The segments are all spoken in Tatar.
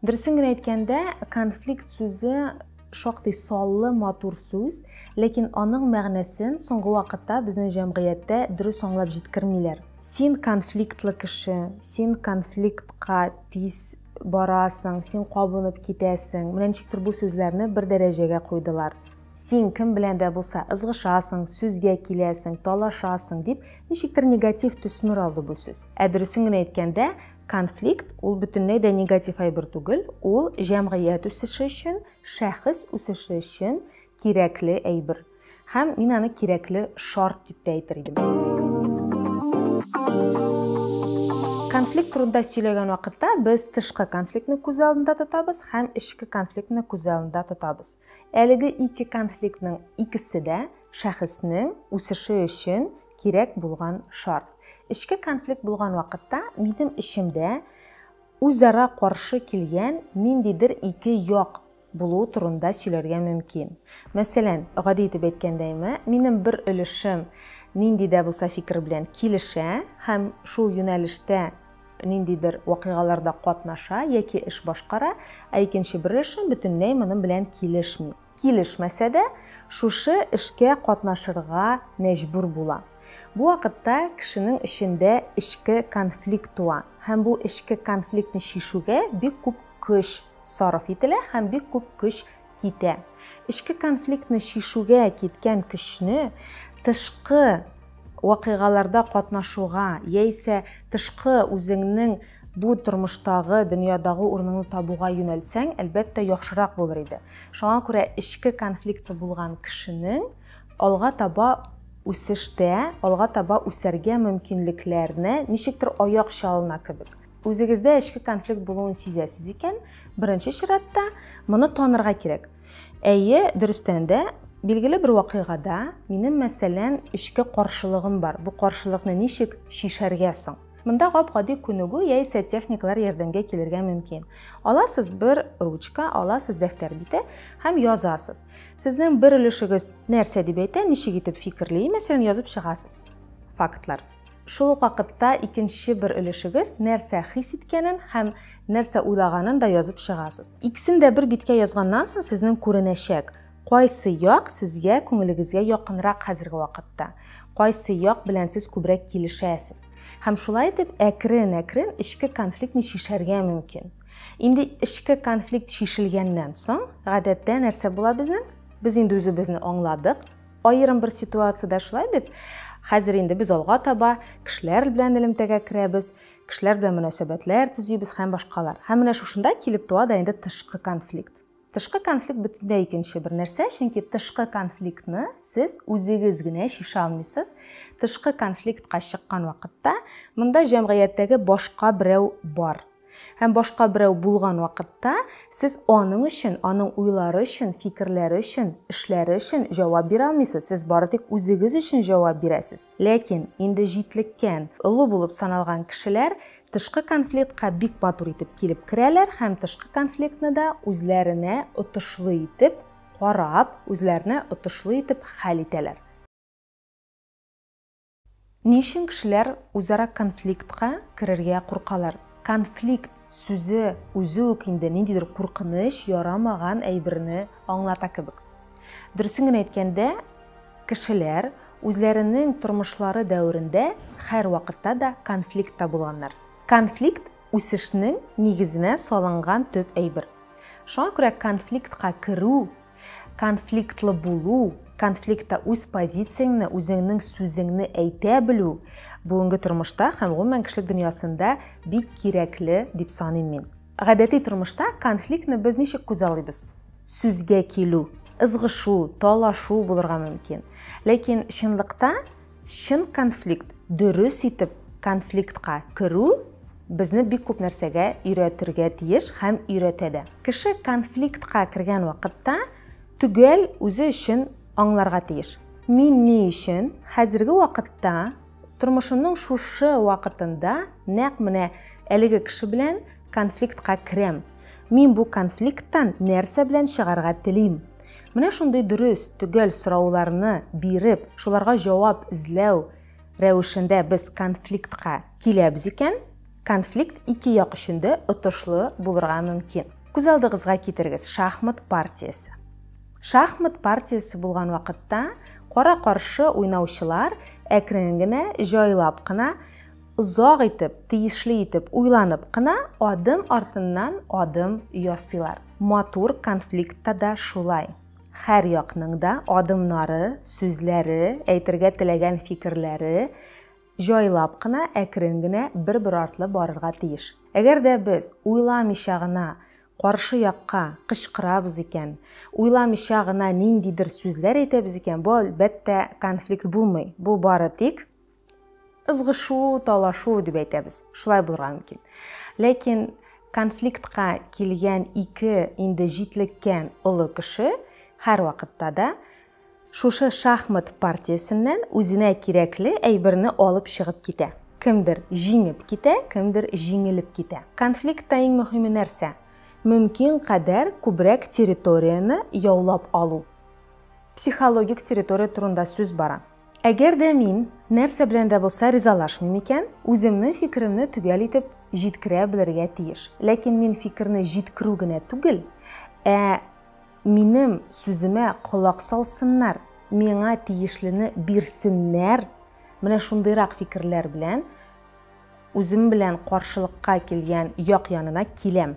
Дөресен генә әйткәндә, конфликт сүзе шактый саллы, матур сүз, ләкин аның мәгънәсен соңгы вакытта безнең җәмгыятьтә дөрес аңлап җиткермиләр. Син конфликтлы кеше, син конфликтка тиз барасың, син кабынып китәсең, менә ничектер бу сүзләрне бер дәрәҗәгә куйдылар. Син кем белән дә булса ызгышасың, сүзгә киләсең, талашасың, дип ничектер негатив төсмер алды бу сүз. Ә дөресен генә әйткәндә, Конфликт ул бөтенләй дә негатив әйбер түгел, ул җәмгыять үсеше өчен, шәхес үсеше өчен кирәкле әйбер. Һәм мин аны кирәкле шарт дип тә әйтер идем. Конфликт турында сөйләгән вакытта без тышкы конфликтны күз алдында тотабыз һәм эчке конфликтны күз алдында тотабыз. Әлеге ике конфликтның икесе дә шәхеснең үсеше өчен кирәк булган шарт. Эчке конфликт булган вакытта минем эчемдә үзара каршы килгән ниндидер ике як булу турында сөйләргә мөмкин. Мәсәлән, гади итеп әйткәндәйме, минем бер өлешем нинди дә булса фикер белән килешә һәм шул юнәлештә ниндидер вакыйгаларда катнаша яки эш башкара, ә икенче бер өлешем бөтенләй моның белән килешми. Килешмәсә дә, шушы эшкә катнашырга мәҗбүр була. Бу вакытта кешенең эчендә эчке конфликт туа һәм бу эчке конфликтны чишүгә бик күп көч сарыф ителә һәм бик күп көч китә. Эчке конфликтны чишүгә киткән көчне тышкы вакыйгаларда катнашуга яисә тышкы үзеңнең бу тормыштагы, дөньядагы урыныңны табуга юнәлтсәң, әлбәттә, яхшырак булыр иде. Шуңа күрә эчке конфликты булган кешенең алга таба үсештә, алга таба үсәргә мөмкинлекләренә ничектер аяк чалына кебек. Үзегездә эчке конфликт булуын сизәсез икән, беренче чиратта моны танырга кирәк. Әйе, дөрестән дә, билгеле бер вакыйгада минем, мәсәлән, эчке каршылыгым бар. Бу каршылыкны ничек чишәргә соң? Монда гап-гади күнегү яисә техникалар ярдәмгә килергә мөмкин. Аласыз бер ручка, аласыз дәфтәр бите һәм язасыз. Сезнең бер өлешегез нәрсә дип әйтә, ничек итеп фикерли, мәсәлән, язып чыгасыз. Фактлар. Шул ук вакытта икенче бер өлешегез нәрсә хис иткәнен һәм нәрсә уйлаганын да язып чыгасыз. Икесен дә бер биткә язганнан соң сезнең күренәчәк, кайсы як сезгә күңелегезгә якынрак хәзерге вакытта, кайсы як белән сез күбрәк килешәсез. Һәм шулай итеп әкрен-әкрен эчке конфликтны чишәргә мөмкин. Инде эчке конфликт чишелгәннән соң, гадәттә нәрсә була безнең? Без инде үзебезне аңладык, Аерым бер ситуациядә шулай бит. Хәзер инде без алга таба кешеләр белән элемтәгә керәбез, кешеләр белән мөнәсәбәтләр төзибез һәм башкалар. Һәм менә шушында килеп туа да инде тышкы конфликт. Тышкы конфликт бөтенләй икенче бер нәрсә, чөнки тышкы конфликтны сез үзегез генә чишә алмыйсыз. Тышкы конфликтка чыккан вакытта монда җәмгыятьтәге башка берәү бар. Һәм башка берәү булган вакытта сез аның өчен, аның уйлары өчен, фикерләре өчен, эшләре өчен җавап бирә алмыйсыз, сез бары тик үзегез өчен җавап бирәсез. Ләкин инде җитлеккән, олы булып саналган кешеләр тышкы конфликтка бик матур итеп килеп керәләр һәм тышкы конфликтны да үзләренә отышлы итеп карап, үзләренә отышлы итеп хәл итәләр. Ни өчен кешеләр үзара конфликтка керергә куркалар? Конфликт сүзе үзе үк инде ниндидер куркыныч, ярамаган әйберне аңлата кебек. Дөресен генә әйткәндә, кешеләр үзләренең тормышлары дәверендә һәрвакытта да конфликтта булганнар. Конфликт, үсешнең нигезенә салынган төп әйбер. Шуңа күрә конфликтка керү, Конфликтлы булу, конфликтта үз позицияңне, үзеңнең сүзеңне әйтә белү бүгенге тормышта һәм гомумән кешелек дөньясында бик кирәкле дип саныйм мин. Гадәти тормышта конфликтны без ничек күзаллыйбыз? Сүзгә килү, ызгышу, талашу булырга мөмкин. Ләкин чынлыкта Чын конфликт, дөрес итеп конфликтка керү безне бик күп нәрсәгә өйрәтергә тиеш һәм өйрәтә дә. Кеше конфликтка кергән вакытта төгәл үзе өчен аңларга тиеш. Мин ни өчен хәзерге вакытта тормышымның шушы вакытында нәкъ менә әлеге кеше белән конфликтка керәм? Мин бу конфликттан нәрсә белән чыгарга телим? Менә шундый дөрес, төгәл сорауларны биреп, шуларга җавап эзләү рәвешендә без конфликтка киләбез икән, конфликт ике як өчен дә отышлы булырга мөмкин. Күз алдыгызга китерегез шахмат партиясе. Шахмат партиясе булган вакытта кара-каршы уйнаучылар әкрен генә, җайлап кына Озак итеп, тиешле итеп уйланып кына адым артыннан адым ясыйлар. Матур конфликтта да шулай. Хәр якның да адымнары, сүзләре, әйтергә теләгән фикерләре җайлап кына, әкрен генә, бер-бер артлы барырга тиеш. Әгәр дә без уйламыйча гына каршы якка кычкырабыз икән, уйламыйча гына ниндидер сүзләр әйтәбез икән, бу, әлбәттә, конфликт булмый. Бу бары тик Ызгышу, талашу дип әйтәбез. Шулай булырга мөмкин. Ләкин конфликтка килгән ике инде җитлеккән олы кеше һәрвакытта да шушы шахмат партиясеннән үзенә кирәкле әйберне алып чыгып китә. Кемдер җиңеп китә, кемдер җиңелеп китә. Конфликтта иң мөһиме нәрсә? Мөмкин кадәр күбрәк территорияне яулап алу. Психологик территория турында сүз бара. Әгәр дә мин нәрсә белән дә булса ризалашмыйм икән, үземнең фикеремне төгәл итеп җиткерә белергә тиеш. Ләкин мин фикерне җиткерү генә түгел, ә минем сүземә колак салсыннар, миңа тиешлене бирсеннәр, менә шундыйрак фикерләр белән, Үзем белән каршылыкка килгән як янына киләм.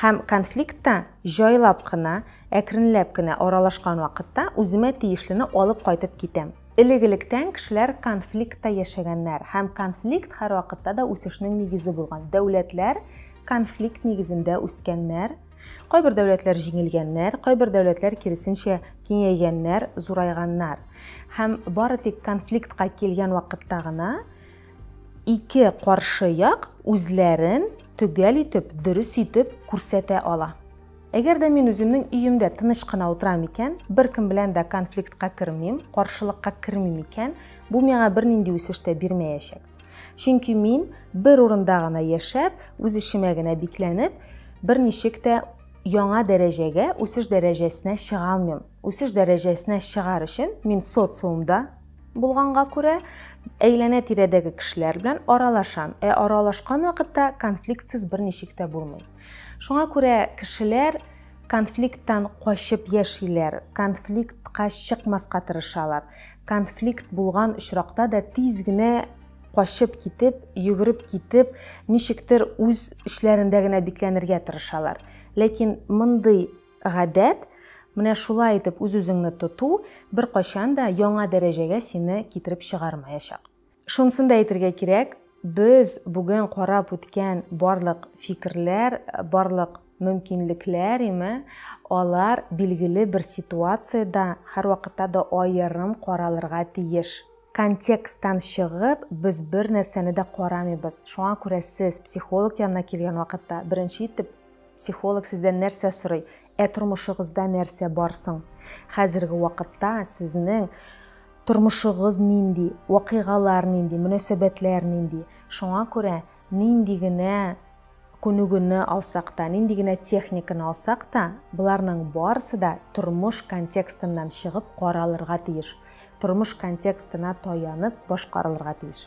Һәм конфликтта җайлап кына, әкренләп кенә аралашкан вакытта үземә тиешлене алып кайтып китәм. Элек-электән кешеләр конфликтта яшәгәннәр һәм конфликт һәрвакытта да үсешнең нигезе булган. Дәүләтләр конфликт нигезендә үскәннәр. Кайбер дәүләтләр җиңелгәннәр, кайбер дәүләтләр киресенчә киңәйгәннәр, зурайганнар. Һәм бары тик конфликтка килгән вакытта гына Ике каршы як үзләрен төгәл итеп, дөрес итеп күрсәтә ала. Әгәр дә мин үземнең өемдә тыныч кына утырам икән, беркем белән дә конфликтка кермим, каршылыкка кермим икән, бу миңа бернинди үсеш тә бирмәячәк. Чөнки мин бер урында гына яшәп, үз эшемә генә бикләнеп, берничек тә яңа дәрәҗәгә, үсеш дәрәҗәсенә чыга алмыйм. Үсеш дәрәҗәсенә чыгар өчен мин социумда булганга күрә, әйләнә-тирәдәге кешеләр белән аралашам. Ә аралашкан вакытта конфликтсыз берничек тә булмый. Шуңа күрә кешеләр конфликттан качып яшиләр, конфликтка чыкмаска тырышалар. Конфликт булган очракта да тиз генә качып китеп, йөгереп китеп, ничектер үз эчләрендә генә бикләнергә тырышалар. Ләкин мондый Гадәт, менә шулай итеп үз-үзеңне тоту беркайчан да яңа дәрәҗәгә сине китереп чыгармаячак. Шунысын да әйтергә кирәк, без бүген карап үткән барлык фикерләр, барлык мөмкинлекләр, име, алар билгеле бер ситуациядә һәрвакытта да аерым каралырга тиеш. Контексттан чыгып, без бернәрсәне дә карамыйбыз. Шуңа күрә сез психолог янына килгән вакытта беренче итеп, Психолог сездән нәрсә сорый? Ә тормышыгызда нәрсә бар соң? Хәзерге вакытта сезнең тормышыгыз нинди, вакыйгалар нинди, мөнәсәбәтләр нинди? Шуңа күрә нинди генә күнегүне алсак та, нинди генә техниканы алсак та, боларның барысы да тормыш контекстыннан чыгып каралырга тиеш, тормыш контекстына таянып башкарылырга тиеш.